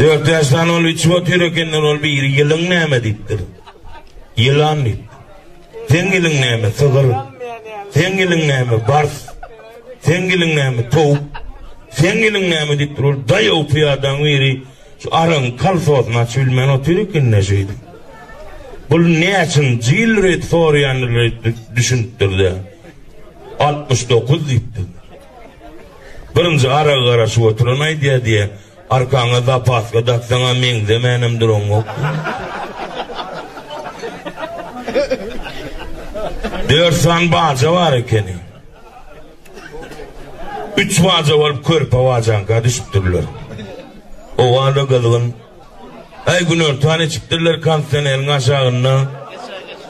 Dört ýaşdan ol içip otyr ekenler, ol biri ýylyň näme diýipdir. Ýylan diýip. Seň ýylyň näme? Sygyr. Seň ýylyň näme? Bars. Seň ýylyň näme? Towuk. Seň ýylyň näme diýipdir. Ol daýaw pyýadaň biri şu araň kalsosyny açyp bilmän otyr ekenler şeýdi. Bul näçin jil ret sorýandyr düşünipdir-de. 69 diýipdir. Birinji aragy garaşyp oturan aýdýar diýýär, arkaňa zapaska daksaň-a meňzemänem duraňok. Dört sany baja bar ekeni. Üç baja bolup körpe bajaňka düşüpdirler. Owal-da gyzgyn. Aý günortan içipdirler kondisioneriň aşagynda.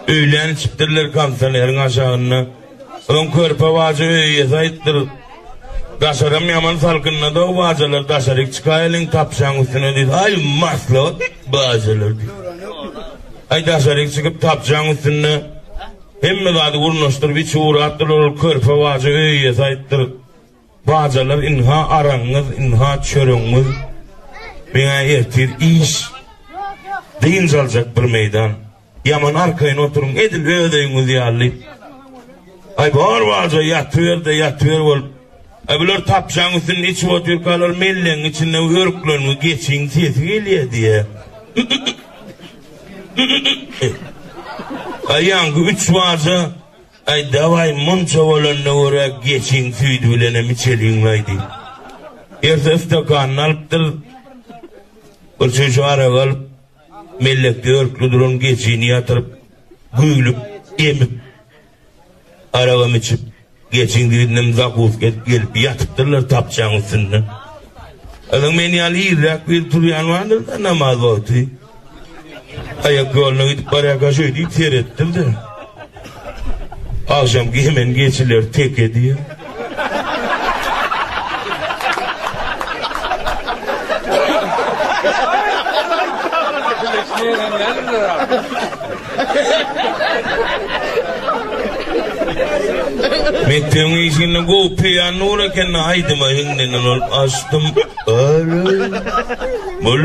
Öýlän içipdirler kondisioneriň aşagynda. Öň körpe bajy öý iýesi aýypdyr. Daşaram ýaman salkynlady-ow bajalar, daşaryk çykaýeliň tapjaň üstüne diýdi. Aý, maslahat bajalar diýdi. Aý, daşaryk çykyp tapjaň üstünde hemme zady gurnaşdyryp içi gurapdylar, ol körpe bajy öý iýesi aýypdyr. Bajalar ynha aragyňyz ynha çöregiňiz meňä ertir iş dynç aljak bir meýdan ýaman arkaýyn oturyň edil öz öýüňiz ýaly aý bar baja ýatyberde ýatyber bolup aý bular tapjaň üstünde içip otyrkalar mellegiň içinde örkleriňi geçiň sesi gelýär diýä aýaňky üç baja Aý daway munça bolanda görä geçiň süýdi bilenem içeliňlaý diýip. Ertesi stakanyny alypdyr. Bir çüýşe arak alyp, mellekde örkli duran geçini ýatyryp, güýlüp, emip, aragam içip, geçiň süýdünem zakuska edip gelip ýatypdyrlar tapçaň üstünde. Azyň men ýaly irräk biri turýan bardyr-da namaz wagty. Aýak ýoluna gidip barýar gaşoý diýip seretdim-de. Agşam hemen geçiler teke diýýär. Mekdebiň işini gowy peýan nur eken aýdyma hiňlenen ol açdym. Öl. Öl.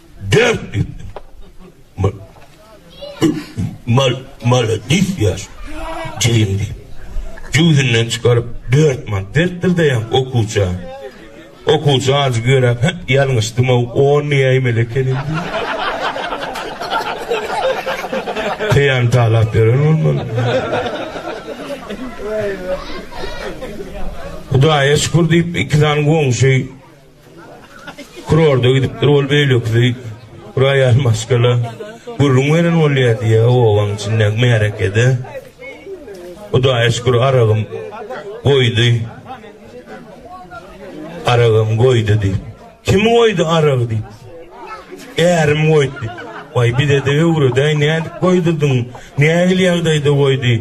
Dört düýpli. Ma, mal, maladis ýaş. Jigim diýip. Jübüsinden çykaryp, dört man beripdir de ýa okuwça. Okuwça ajy görüp, hä, ýalňyşdym-ow, on näýmeli ekenim diýip. Peýan talap beren olmaly. Hudaýa şükür diýip, iki sany goňşy Kurorda gidipdir ol beýlekisi roýal maşgala gürrüň beren bolýar diýýä obaň içindäki märekede. Hudaýa şükür aragym goýdy. Aragym goýdy diýip. Kim goýdy arag diýip. Ärim goýdy. Waý bize-de öwredäý nädip goýdurdyň? Nähili ýagdaýda goýdy?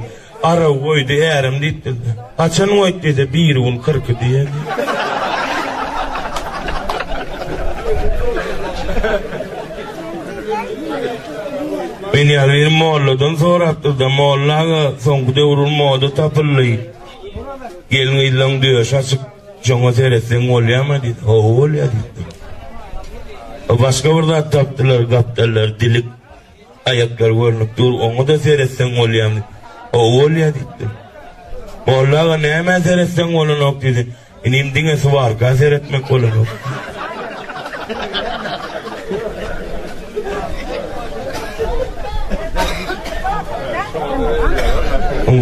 Araw goýdy ärim diýip bildi. Haçan goýdy diýse biri gün kyrky diýýär. Men ýaly bir molladan sorapdyr-da, molla aga soňky döwrüň moda tapyldy. Gelin ýyllaň döş açyp, joňa seretseň bolýarmy diýdi. Hawa bolýar diýdi. Başga bir zat tapdylar, gapdallar dilik. Aýaklar görnüp dur, oňa-da seretseň bolýamy? Hawa, bolýa, diýipdim. Molla aga nämä seretseň bolanok diýdi. Inim, diňe suwarka seretmek bolanok.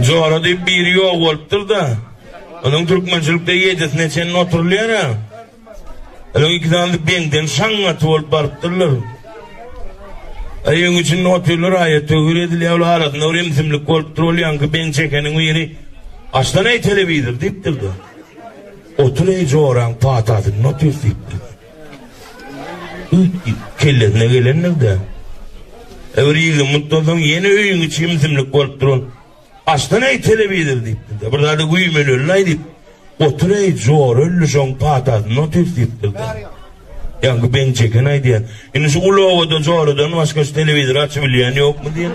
Jora diýip biri ýok bolupdyr-da. Onuň türkmençilikde ýedisine çenli oturylýar-a. Olaň iki sany beňden şaňňaty bolup barypdyrlar. Aýyň içinde otyrlar, aýa töwir edilýär, ol arasynda bir imsimlik bolupdyr, ol ýaňky beň çekeniň biri, Açdan eý telewizor diýipdir-de. Otur eý joraň patasynda otyrys diýipdir. Üýtgip kellesine gelendir-de. Öwri ýygy mutdan soň ýene öýüň içi imsimlik bolupdyr ol. Açdan eý telewizor diýipdir-de, bir zady güýmenelilaý diýip, Otur eý, jora ölli şoň patasyny otys diýipdir-de. Ýaňky Beň Çeken aýdýar, Indi şu uly obada joradan başga şu telewizory açyp bilýän ýokmy diýen.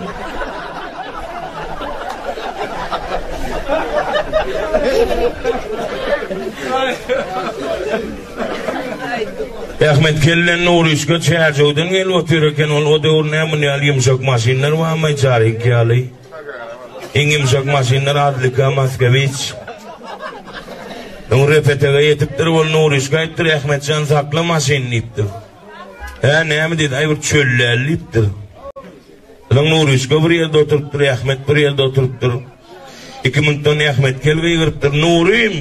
Ahmet kellen Nurişka çärjewden gelip otyr eken, ol o döwür näme ýaly ýumşak maşynlar barmy, çaryk ýaly. Iň ýumşak maşyndan Adlika Maskewiç. Öň Repetege ýetipdir, ol Nuryşka aýtdyr, Ahmetjan sakla maşyny diýipdir. Hä, näme diýdi, aý bir çöllel diýipdir. Soň Nuryşka bir ýerde oturypdyr, Ahmet bir ýerde oturypdyr. Iki minutdan Ahmet kel gygyrypdyr, Nurym!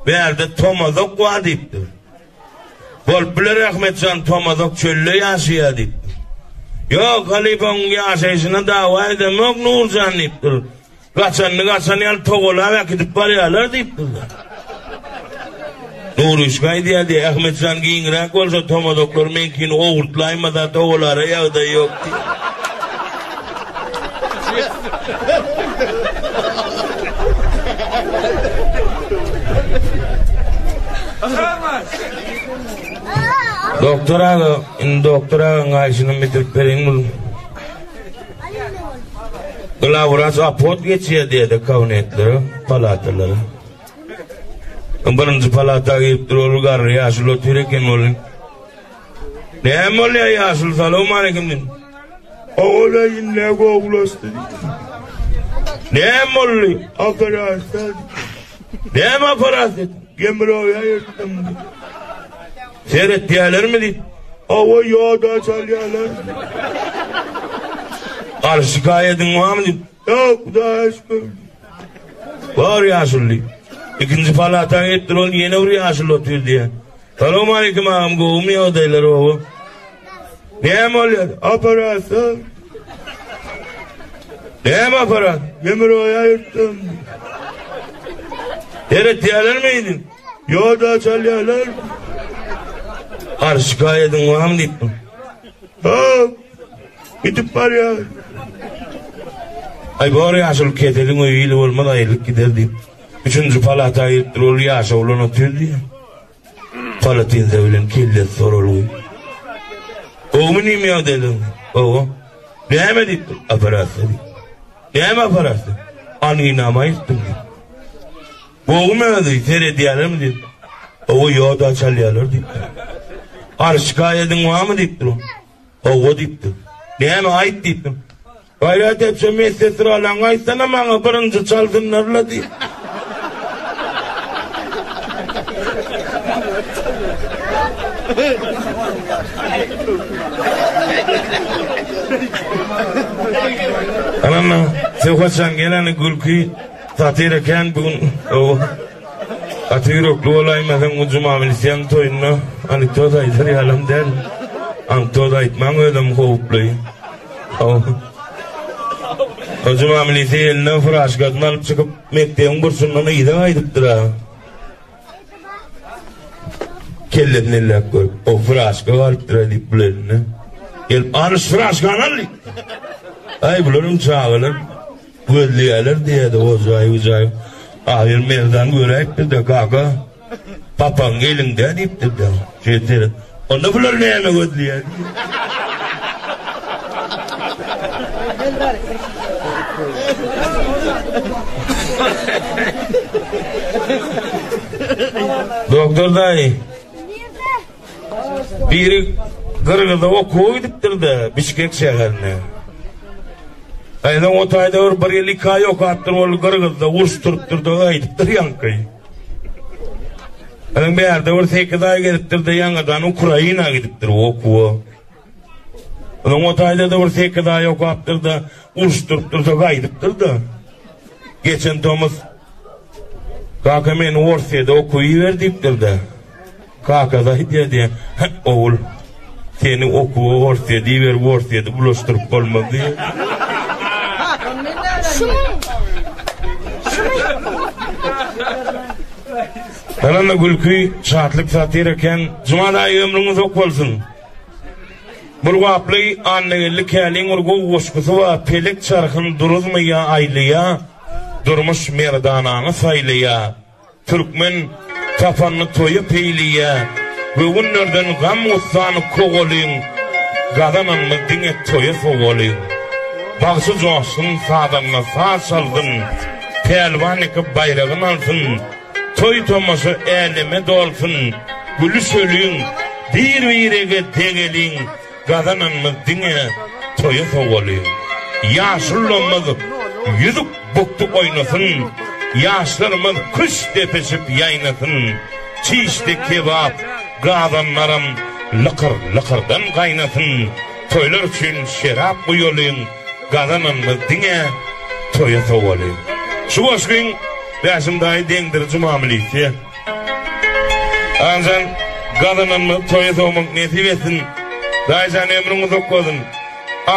Bärde Tomazok bar diýipdir. Bolup biler Ahmetjan Tomazok çölde ýaşaýar diýipdir. Ýok, halypa onuň ýaşaýşyna dawa edemok Nurjan diýipdir. Gaçanyny gaçan ýaly togalap äkidip barýarlar diýipdirler. Nuruşka aýdýardy, Ahmetjan giňräk bolsa Tomazoklar meňkini owurtlaýmasa togalara ýagdaý ýok diýip. Doktor aga, indi doktor aga gaýşyny bitirip beriň bul. Glawraç apot geçýär diýdi kabinetlere, palatalara. Birinji palata girip dur, ol garry ýaşuly otyr eken ol. Näme bolýar ýaşuly salowmaleýkim diýdim. Ogula ýine gowulaşdy. Näme boldy? Operasiýa. Näme operasiýa? Gemroýa ýetdim. Seretýärlermi diýip. Awa ýoda çalýarlar. Garşy gaýadyň wamy diýip. Ýok, Hudaýa şükür. Bar ýaşuly. Ikinji palata gitdir ol ýene bir ýaşuly otyr diýýär. Salowmaleýkim agam gowumy ýagdaýlar oba? Näme bolýar? Operasiýa. Näme aparat? Demir oya yırttım. Deret diyalar mıydın? Yo da çalyalar. Har şikayetin var mı deyip mi? Yok. Gidip barýar. Aý bor ýaşuly keseliň öýi ili bolmaz aýrylyp gider diýip. Üçünji palata giripdir ol ýaşa bolan otyr diýýär. Palatinsa bilen kellesi soralgy. Gowmy nim ýagdaýlaň? Gowy. Näme diýipdir? Operasiýa diýip. Näme operasiýa? Anginama aýtdym diýip. Gowmy özi seredýärmi diýip. Gowy ýoda çalýarlar diýip. Arşyka ediň wamy diýipdir. Hawa diýipdi. Näme aýt diýipdim. Gaýrat etjek medsesralaňy aýtsana maňa birinji çalsynlar-la diýip. Anam, Söhbetjan geleni gülki, satira kän bugün. Gaty ýürekli bolaýma sen Gunjuma bilseň toýunda anekdot aýdar ýalam däl. Ankdot aýtmaň özem howply. Gunjuma milise eline furaşkasyny alyp çykyp mekdebiň burçundan yza gaýdypdyra. Kellesini elläp görüp, o furaşka galypdyra diýip bul eline. Gelip, alyş furaşkany al diýip. Aý bularyň çagalar. Gözleýäler diýýärdi ojaý-ujaý. Ahyr merdan göräýipdir-de, Gaga, papaň eliňde diýipdir-de. Şeýtse, onda bular näme gözleýär diýip. Doktor daýy. Biri Gyrgyza okuwa gidipdir-de, Bişkek şäherine. Gaýynyň o taýda bir bir ýyl iki aý okapdyr, ol Gyrgyzda uruş turupdyr-da, gaýdypdyr ýaňky. Ýöne bärde bir sekiz aý gezipdir-de, ýaňadan Ukraina gidipdir okuwa. Onuň o taýda-da bir sekiz aý okapdyr-da, uruşdyryp dursa gaýdypdyr-da. Geçen tomus Kaka meni Orsýede okuw iber diýipdir-de. Kaka da aýdýar diýe, Hä, ogul, seni okuwa Orsýede iberip, Orsýede bulaşdyryp bolmaz diýe. Ýöne gülki, şatlyk satyr eken. Jumal aýy ömrüňiz ok bolsun. Gulgaply Annageldi Käliň bir gowy goşgusy bar, Pelek çarhyň duruzmy ýa aýlaýa, Durmuş merdanaňy saýlaýa. Türkmen tapanyny toýa peýleýä, Göwünlerden gam-gussany kowalyň, Gazananymy diňe toýa sowalyň. Bagşy joşsun, sazanda saz çalsyn, Pälwan ýeke baýragyn alsyn, Toý-tomaşa äleme dolsun, gülüşeliň, bir-birege degeliň, gazananymyz diňe toýa sowalyň. Ýaşulamyz ýüzük bukdy oýnasyn, ýaşlarymyz küşt depişip ýaýnasyn, çişdi kebap gazanlaram lykyr-lykyrdan gaýnasyn, toýlar üçin şerap guýalyň, gazananymyz diňe toýa sowalyň. Şu goşgyň. Bäşim daýy deňdir juma milisiýa. Anjan gazananymyzy toýa sowmak nesip etsin. Daýyjan ömrüň uzak bolsun.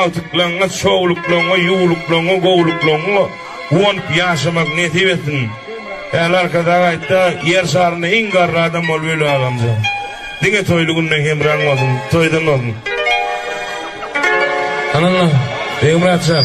Agtyklaňňa, şowluklaňňa, ýuwluklaňňa, gowluklaňňa guwanyp ýaşamak nesip etsin. Häli Arkadag aýtda ýer şarynda iň garry adam bol weli agamjan. Diňe toýly günde hemraň bolsun. Toýdan bolsun. Ananna Begmyratjan.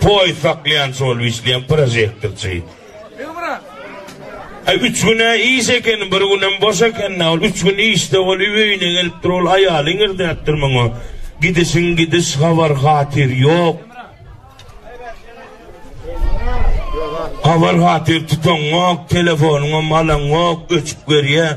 Poýiz saklaýan şol işleýän prožektorçy. Aý üç gün-ä iş eken, bir günem boş eken-dä, ol üç gün işde ol öýüne gelipdir, ol aýaly iňirdäpdir muňa, Gidişiň gidiş, habar-hatyr ýok. Habar-hatyr tutaňňok, telefonyňam alaňňok, öçüp görýär.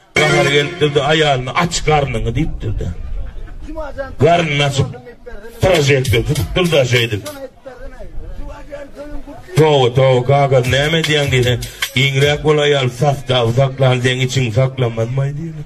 Bahar gelipdir-de, aýalyna aç garnyňy diýipdir-de. Garnyny açyp, prožektor tutupdyr-da şeýdip. Toba, toba, kaka, näme edýäň diýse, giňräk bol aýal, sastawy saklan, deň içiňi saklamazmaý diýipdir.